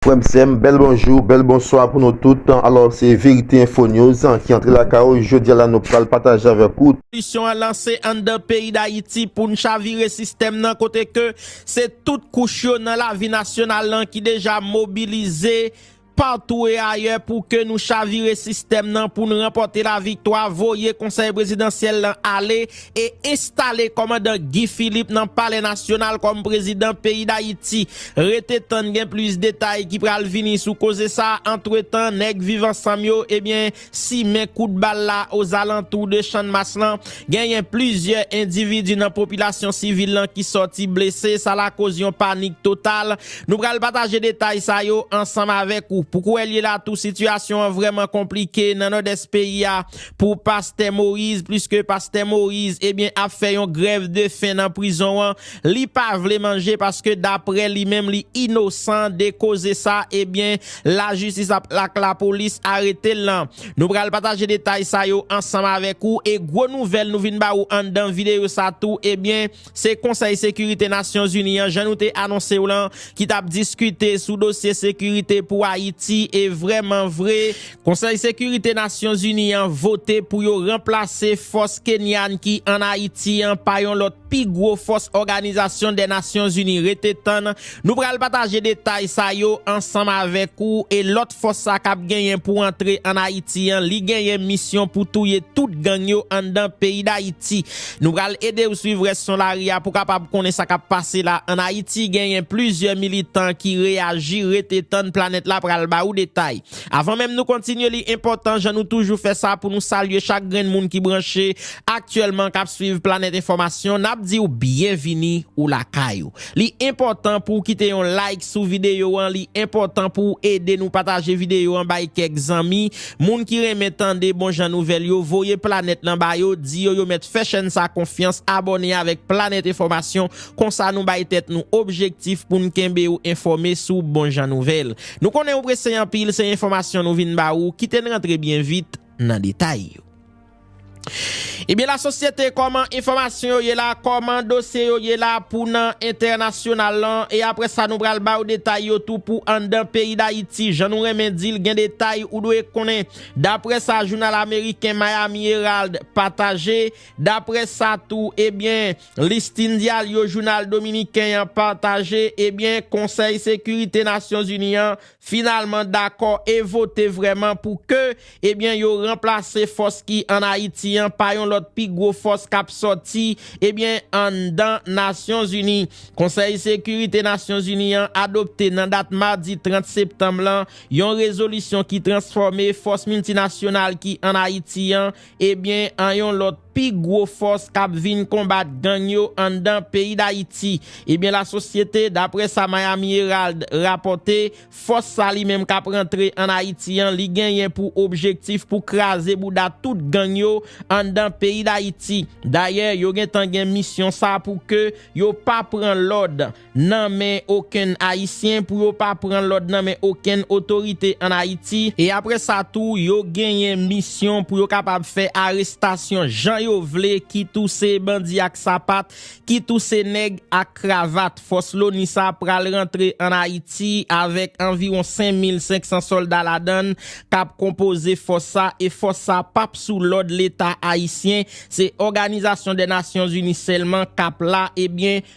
Frèm sèm bèl bonjou bèl bonswa pou nou tout alò se verite enfo news ki antre lakay ou jodia la nou pral pataje avèk ou. Revolisyon an lanse anndan peyi Dayiti pou n chavire sistèm nan kote ke se tout kouch yo nan lavi nasyonal lan ki deja mobilize patou e ayè pou ke nou chavire sistèm nan pou n ranpòte laviktwa voye konsèy prezidansyèl lan ale e enstale kòmandan Guy Philippe nan palè nasyonal kòm prezidan peyi Dayiti. Rete tann gen plis detay ki pral vini sou koze sa, antretan nèg viv ansanm yo ebyen simen kout bal la ozalantou de channmas lan, genyen plizyè endividi nan popilasyon sivil lan ki sòti blese, sa lakoz yon panik total, nou pral pataje detay sa yo ansanm avèk ou. Pou kouwèlyela tou sitiyasyon an vrèman konplike nan nòdès peyi a, Pou pastè Moïse pliske pastè Moïse ebyen ap fè yon grèv de fen nan prizon an li pa vle manje paske daprè li menm li inosan de koze sa ebyen la jistis ap ak la polis aretel lan nou pral pataje detay sa yo ansanm avèk ou e gwo nouvèl nou vin ba ou anndan videyo sa tou ebyen Se Konsèy Sekirite Nasyonzini an, jan nou te anonse w lan, ki tap diskite sou dosye sekirite pou Ayiti e vrèman vre, Konsèy Sekirite Nasyonzini an vote pou yo ranplase fòs Kenyan ki an Ayiti an pa yon lòt pi gwo fòs Òganizasyon dè Nasyonzini rete tann Nou pral pataje detay sa yo ansanm avèk ou e lòt fòs sa kap genyen pou antre an Ayiti an li genyen misyon pou touye tout gang yo anndan peyi Dayiti. Nou pral edew swiv rès son lari a pou kapab konnen sa kap pase la an Ayiti genyen plizyè militan ki reyaji rete tann planèt la pral ba ou detay. Avan menm nou kontinye li enpòtan jan nou toujou fè sa pou nou salye chak grenn moun ki branche aktyèlman kap swiv Planet Enfòmasyon nap diw byenvini ou lakay ou. Li enpòtan pouw kite yon like sou videyo an li enpòtan pouw ede nou pataje videyo an bay kèk zanmi, moun ki renmen tande bon jan nouvèl yo voye planet lan ba yo di yo yo mèt fè chèn sa konfyans abòne avèk planet enfòmasyon konsa nou bay tèt nou objektif poun kenbew enfòme sou bon jan nouvèl nou konnen ou prese anpil se enfòmasyon nou vin ba ou kiten rantre byen vit nan detay yo. Ebyen la sosyete kòman enfòmasyon yo ye la, kòman dosye yo ye la pou nan entènasyonal lan e apre sa nou pral ba ou detay yo tou pou anndan peyi Dayiti jan nou renmen di l gen detay ou dwe konnen daprè sa jounal ameriken Miami Herald pataje daprè sa tou ebyen Listin Diallo jounal dominiken an pataje ebyen konsèy sekirite Nasyon Zini an finalman dakò e vote vrèman pou ke ebyen yo ranplase fòs ki an Ayiti an pa yon lòt pi gwo fòs k ap sòti ebyen anndan Nasyonzini. Konsèy Sekirite Nasyonzini an adopte nan dat madi 30 septanm lan yon rezolisyon ki transfòme fòs miltinasyonal ki an Ayiti an ebyen an yon lòt pi gwo fòs kap vin konbat gang yo anndan peyi Dayiti. Ebyen la sosyete, daprè sa Miami Herald rapòte, fòs sa li menm kap rantre an Ayiti an li genyen pou objektif pou kraze bouda tout gang yo anndan peyi Dayiti. Dayè yo gentan gen misyon sa pou ke yo pa pran lòd nan men okenn Ayisyen, pou yo pa pran lòd nan men okenn otorite an Ayiti, e apre sa tou yo genyen misyon pou yo kapab fè arestasyon jan yo vle, kit ou se bandi ak sapat, kit ou se nèg ak kravat. Fòs loni sa pral rantre an Ayiti avèk anviwon 5500 sòlda ladan l k ap konpoze fòs sa, e fòs sa p ap sou lòd Leta Ayisyen, se Òganizasyon dè Nasyonzini sèlman k ap la, ebyen,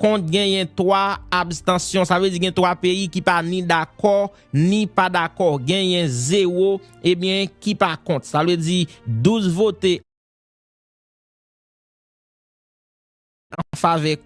kont genyen 3 abstansyon. Sa vle di gen 3 peyi ki pa ni dakò, ni pa dakò. Genyen 0, ebyen, ki pa kont. Sa vle di 12 vote an favè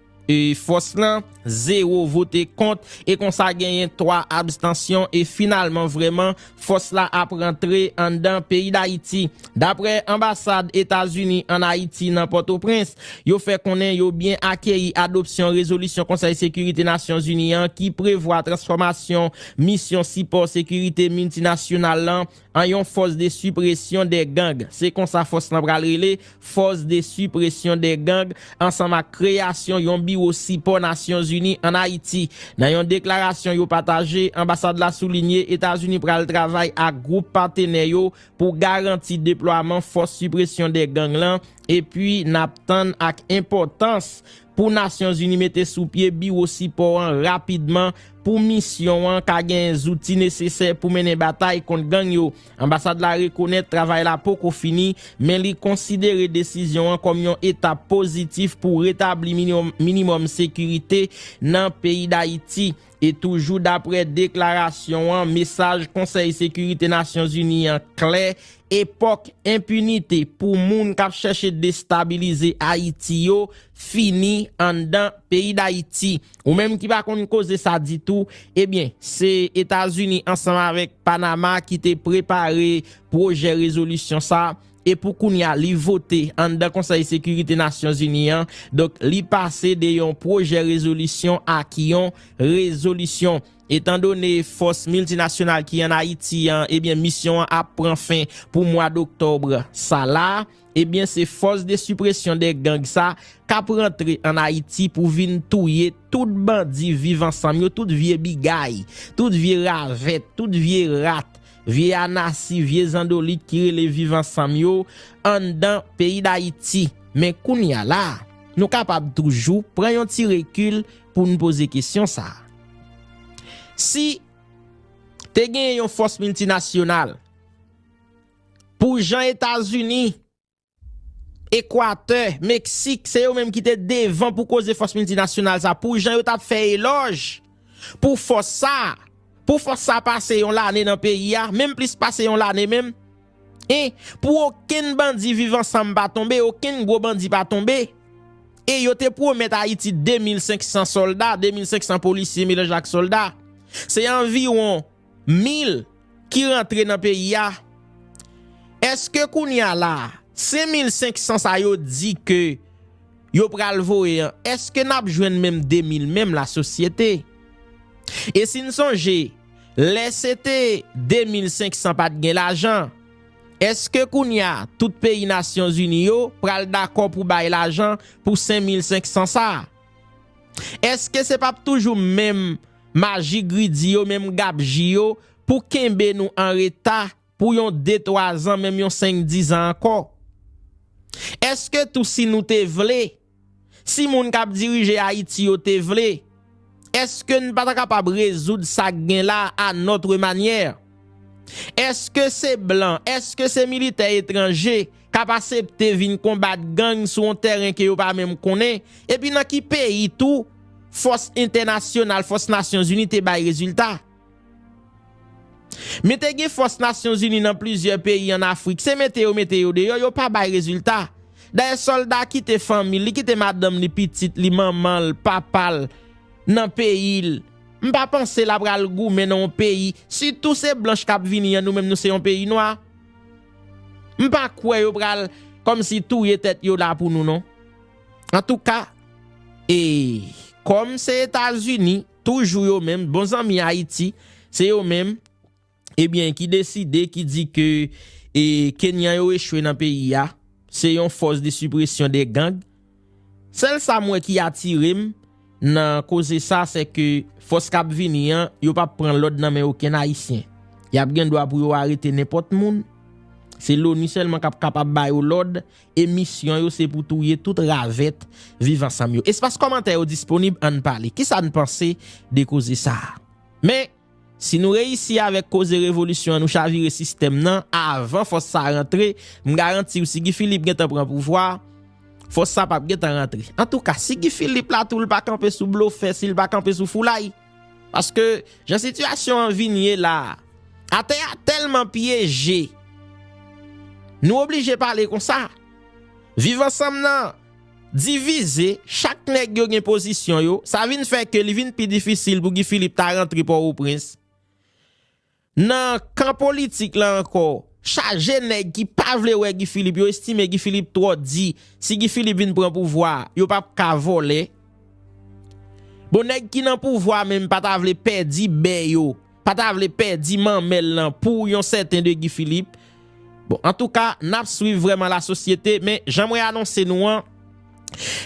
fòs lan, 0 vote kont, e konsa genyen 3 abstansyon, e finalman vrèman, Fòs la ap rantre anndan peyi Dayiti. Daprè anbasad Etazini ann Ayiti nan Pòtoprens, yo fè konnen yo byen akeyi adopsyon rezolisyon Konsèy Sekirite Nasyonzini an ki prevwa transfòmasyon Misyon Sipò Sekirite Miltinasyonal lan an yon fòs de sipresyon dè gang, se konsa fòs lan pral rele, Fòs de sipresyon de gang ansanm ak kreyasyon yon biwo sipò Nasyonzini an Ayiti. Nan yon deklarasyon yo pataje, anbasad la soulinye Etazini pral travay ak gwoup patenè yo pou garanti deplwaman fòs sipresyon de gang lan epi n ap tann ak enpòtans pou Nasyonzini mete sou pye biwo sipò an rapidman pou misyon an ka genyen zouti nesesè pou mennen batay kont gang yo. Anbasad la rekonèt travay la poko fini, men li konsidere desizyon an kòm yon etap pozitif pou retabli minimòm sekirite nan peyi Dayiti. E toujou daprè deklarasyon an, mesaj Konsèy Sekirite Nasyonzini an klè, epòk enpinite pou moun k ap chèche destabilize Ayiti yo fini anndan peyi dayiti ou menm ki pa konn koze sa ditou ebyen se etazini ansanm avèk panama ki te prepare pwojè rezolisyon sa e pou kounya li vote anndan konsèy sekirite nasyon zini an donk li pase de yon pwojè rezolisyon ak yon rezolisyon etan done fòs miltinasyonal ki an ayiti an ebyen misyon an ap pran fen pou mwa doktòbre sa la. Ebyen se fòs de sipresyon de gang sa kap rantre an Ayiti pou vin touye tout bandi viv ansanm yo tout vye bigay, tout vye ravèt, tout vye rat, vye anasi, vye zandolit ki rele viv ansanm yo anndan peyi Dayiti. Men kounya la nou kapab toujou pran yon ti rekil poun poze kesyon sa. Si te genyen yon fòs miltinasyonal. Pou jan Etazini, Ekwatè, Meksik, se yo menm ki te devan pou koze fòs miltinasyonal sa, pou jan yo t ap fè elòj pou fòs sa, pou fòs sa pase yon lane nan peyi a, menm plis pase yon lane menm, e pou okenn bandi viv ansanm pa tonbe, okenn gwo bandi pa tonbe, e yo te pwomèt Ayiti 2500 sòlda, 2500 polisye melanj ak sòlda, se anviwon. mil ki rantre nan peyi a, eske kounye a la, 5 mil 500 sa yo di ke yo pral voye an, eske n ap jwenn menm 2 mil menm la sosyete? E si n sonje, lè se te 2 mil 500 pa t gen lajan, eske kounye a tout peyi nasyon zini yo pral dakò pou bay lajan pou 5 mil 500 sa? Eske se p ap toujou menm maji gridi yo menm gabji yo pou kenbe nou an reta pou yon de twa zan menm yon senk dizan ankò? Eske tou si nou te vle, si moun k ap dirije Ayiti yo te vle, eske n pa ta kapab rezoud sa k gen la anòtremanyè? Eske se blan, eske se militè etranje k ap asepte vin konbat gang sou yon tèren ke yo pa menm konnen? Epi nan ki peyi tou fòs entènasyonal, fòs Nasyonzini te bay rezilta? Men te gen fòs Nasyonzini nan plizyè peyi an Afrik, se mete yo mete yo deyò, yo pa bay rezilta. Dayè sòlda a kite fanmi l, li kite madanm li, pitit li, manman l, papa l nan peyi l. M pa panse la pral goumen nan yon peyi sitou se blanch kap vini an nou menm nou se yon peyi nwa m pa kwè yo pral kòmsi touye tèt yo la pou nou non antouka e kòm se etazini toujou yo menm bon zanmi ayiti se yo menm ebyen ki deside ki di ke e kenyan yo echwe nan peyi a se yon fòs de sipresyon de gang sèl sa m wè ki atirem nan koze sa se ke fòs kap vini an yo pap pran lòd nan men okenn ayisyen yap gen dwa pou yo arete nenpòt moun se loni sèlman kap kapab ba yo lòd e misyon yo se pou touye tout ravèt viv ansanm yo espas kòmantè yo disponib ann pale kisa n panse de koze sa men. Si nou reyisi avèk koze revolisyon an nou chavire sistèm nan avan fòs sa rantre m garantiw si Guy Philippe gentan pran pouvwa fòs sa pap gentan rantre antouka si Guy Philippe la tou l pa kanpe sou blofè sil pa kanpe sou foulay paske jan sitiyasyon an vin ye la atè a tèlman pyeje nou oblije pale konsa viv ansanm nan Divize, chak nèg yo gen pozisyon yo, sa vin fè ke li vin pi difisil pou Guy Philippe ta rantre Pòwoprens. Nan kan politik la ankò, chaje nèg ki pa vle wè Guy Philippe, yo estime Guy Philippe twò di, si Guy Philippe vin pran pouvwa a, yo pap ka vòlè. Bon nèg ki nan pouvwa menm pa ta vle pèdi bè yo. pa ta vle pèdi manmèl lan pou yon sèten de Guy Philippe bon antouka nap swiv vrèman la sosyete men jan mwen anonse nou an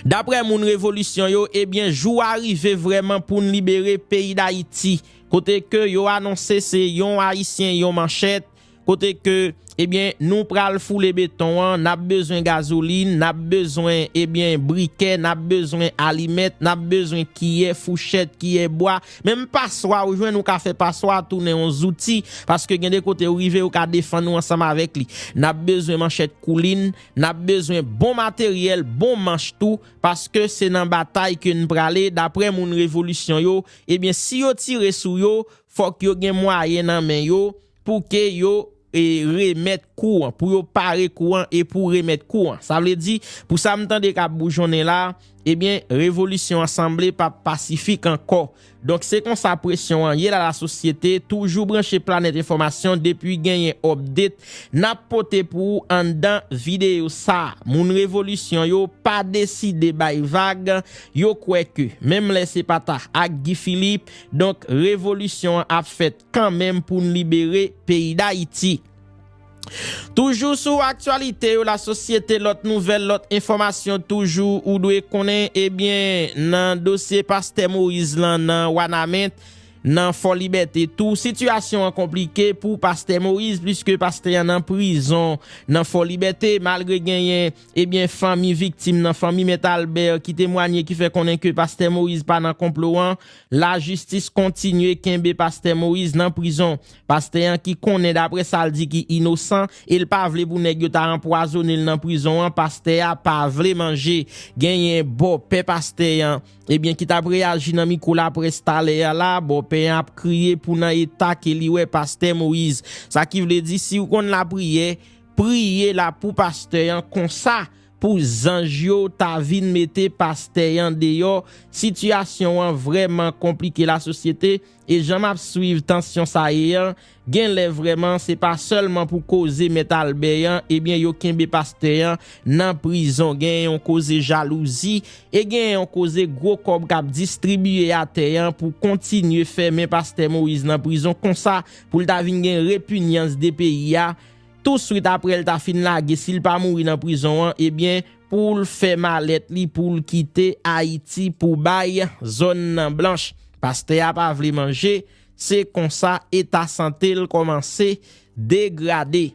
daprè moun revolisyon yo ebyen jou a rive vrèman poun libere peyi dayiti kote ke yo anonse se yon ayisyen yon manchèt kote ke ebyen eh nou pral foule beton an, nap bezwen gazolin, nap bezwen ebyen eh brikè, nap bezwen alimèt, nap bezwen kiyè, fouchèt, kiyè bwa, menm paswa ou jwenn ou ka fè paswa a tounen yon zouti, paske gen de kote ou rive ou ka defann ou ansanm avèk li. Nap bezwen manchèt koulin, nap bezwen bon materyèl, bon manch tou, paske se nan batay ke n prale, daprè moun revolisyon yo, ebyen si yo tire sou yo, Fòk yo gen mwayen nan men yo pou ke yo remèt kou an, pou yo pare kou an e pou remèt kou an. Sa vle di, pou sa m tande k ap boujonnen la, ebyen, revolisyon an sanble pa p pasifik ankò. Donk, se konsa presyon an ye lalasosyete, toujou branche Planèt Enfòmasyon depi genyen òpdet, n ap pote pou ou anndan videyo sa a. Moun revolisyon yo pa deside bay vag, yo kwè ke, menm lè se pa ta ak Guy Philippe, Donk revolisyon an ap fèt kanmenm pou n libere peyi Dayiti. Toujou sou aktyalite yo lasosyete lòt nouvèl lòt enfòmasyon toujou ou dwe konnen ebyen nan dosye pastè Moïse lan nan Wanament nan Fòlibète tou sitiyasyon an konplike pou pastè Moïse pliske pastè an nan prizon nan Fòlibète malgre genyen Ebyen fanmi viktim nan, fanmi Mèt Albert ki temwanye ki fè konnen ke Pastè Moïse pa nan konplo an, lajistis kontinye kenbe Pastè Moïse nan prizon. Pastè an ki konnen daprè sa l di ki inosan e l pa vle pou nèg yo ta anpwazone l nan prizon an, pastè a pa vle manje. Genyen bòpè pastè an, ebyen ki t ap reyaji nan mikwo laprès talè a la, bòpè an ap kriye pou nan eta ke li wè Pastè Moïse. Sa ki vle di si w konn lapriyè, Priye la pou pastè an konsa pou zanj yo ta vin mete pastè an deyò sitiyasyon an vrèman konplike la sosyete e jan map swiv tansyon sa ye an genlè vrèman se pa sèlman pou koze mèt Albè an ebyen yo kenbe pastè an nan prizon gen yon koze jalouzi e gen yon koze gwo kòb kap distribiye atè an pou kontinye fèmen pastè Moïse nan prizon konsa poul ta vin gen repinyans de peyi a Touswit apre l ta fin lage, si l pa mouri nan prizon an, ebyen pou l fè malèt li pou l kite Ayiti pou bay zòn nan blanch. Pastè a pa vle manje, se konsa eta sante l kòmanse degrade.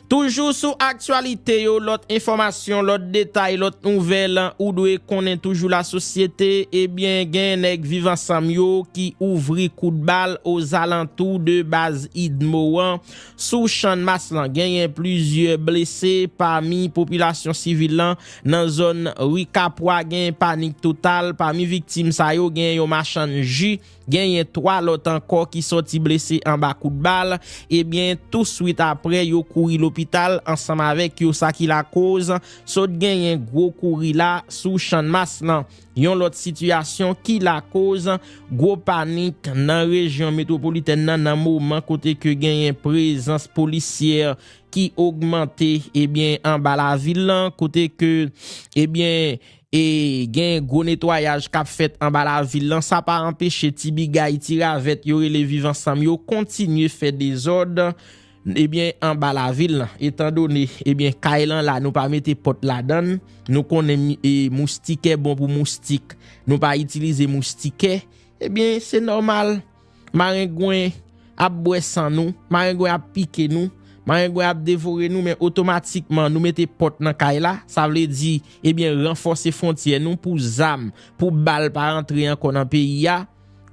Toujou sou aktyalite yo, lòt enfòmasyon, lòt detay, lòt nouvèl ou dwe konnen toujou lasosyete, ebyen gen nèg Viv Ansanm yo ki ouvri kout bal ozalantou de baz Idmo an. Sou Channmas lan genyen plizyè blese pami popilasyon sivil lan nan zòn Ri Kapwa genyen panik total pami viktim sa yo genyen yon machann ji genyen 3 lòt ankò ki sòti blese anba kout bal ebyen tou swit aprè yo kouri lopital ansanm avèk yo sa ki lakoz sòt genyen gwo kouri la sou Channmas lan. Yon lòt sitiyasyon ki lakoz gwo panik nan rejyon metwopolitèn nan nan moman kote ke genyen prezans polisyè ki ogmante ebyen anba lavil lan kote ke ebyen e gen gwo netwayaj kap fèt anba lavil lan sa pa anpeche ti bigay ti ravèt yo rele viv ansanm yo kontinye fè dezòd Ebyen anba lavil lan etan done ebyen kay lan la nou pa mete pòt ladann nou konnen e moustikè bon pou moustik nou pa itilize moustikè ebyen se nòmal marengwen ap bwè san nou marengwen ap pike nou marengwen ap devore nou men otomatikman nou mete pòt nan kay la sa vle di ebyen ranfòse fontyè nou pou zam pou bal pa rantre ankò nan peyi a.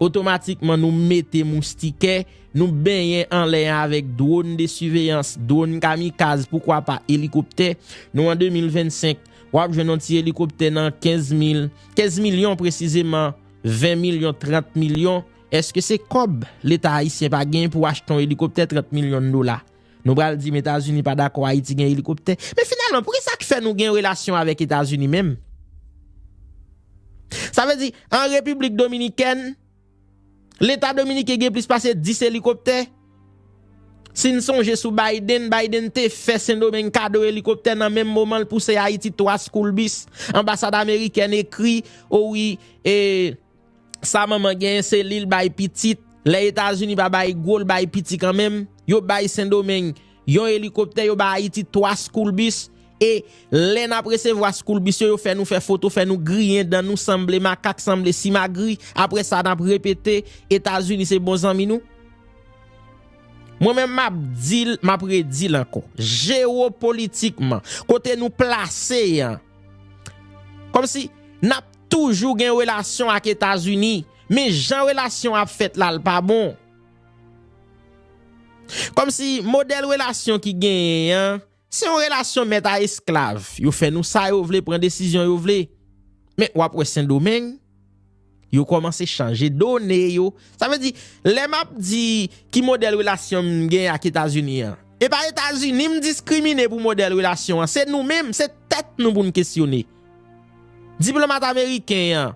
Otomatikman nou mete moustikè, nou benyen anlè an avèk dwòn de siveyans, dwòn kamikaz, poukwa pa elikoptè. Nou an 2025, w ap jwenn yon ti elikoptè nan 15 mil, 15 milyon presizeman, 20 milyon, 30 milyon. Eske se kòb Leta ayisyen pa genyen pou achte yon elikoptè 30 milyon dola? Nou pral di m Etazini pa dakò Ayiti gen elikoptè. Men finalman pou ki sa k fè nou gen relasyon avèk Etazini menm? Sa vle di an Repiblik Dominikèn, Leta Dominiken gen plis pase 10 elikoptè? Si n sonje sou Biden, Biden te fè Sendomeng kado elikoptè nan menm moman l pouse Ayiti 3 school bus. Anbasad Amerikèn ekri, o wi, e. Sa manman genyen se lil bay pitit lè etazini pa bay gwo l bay piti kanmenm yo bay sendomeng yon elikoptè yo bay ayiti 3 school bus e lè nap resevwa school bus yo yo fè nou fè foto fè nou griyen dan nou sanble makak sanble simagri aprè sa nap repete etazini se bon zanmi nou mwen menm map dil map redil ankò jero politikman kote nou plase yan kòmsi nap Toujou gen relasyon ak etazini men jan relasyon ap fèt la l pa bon. Kòmsi modèl relasyon ki genyen an se yon relasyon mèt a esklav yo fè nou sa yo vle pran desizyon yo vle men wap wè sendomeng yo kòmanse chanje done yo sa vle di lè map di ki modèl relasyon m genyen ak etazini an epa etazini m diskrimine pou modèl relasyon an se nou menm se tèt nou pou n kesyone. Diplomat ameriken an.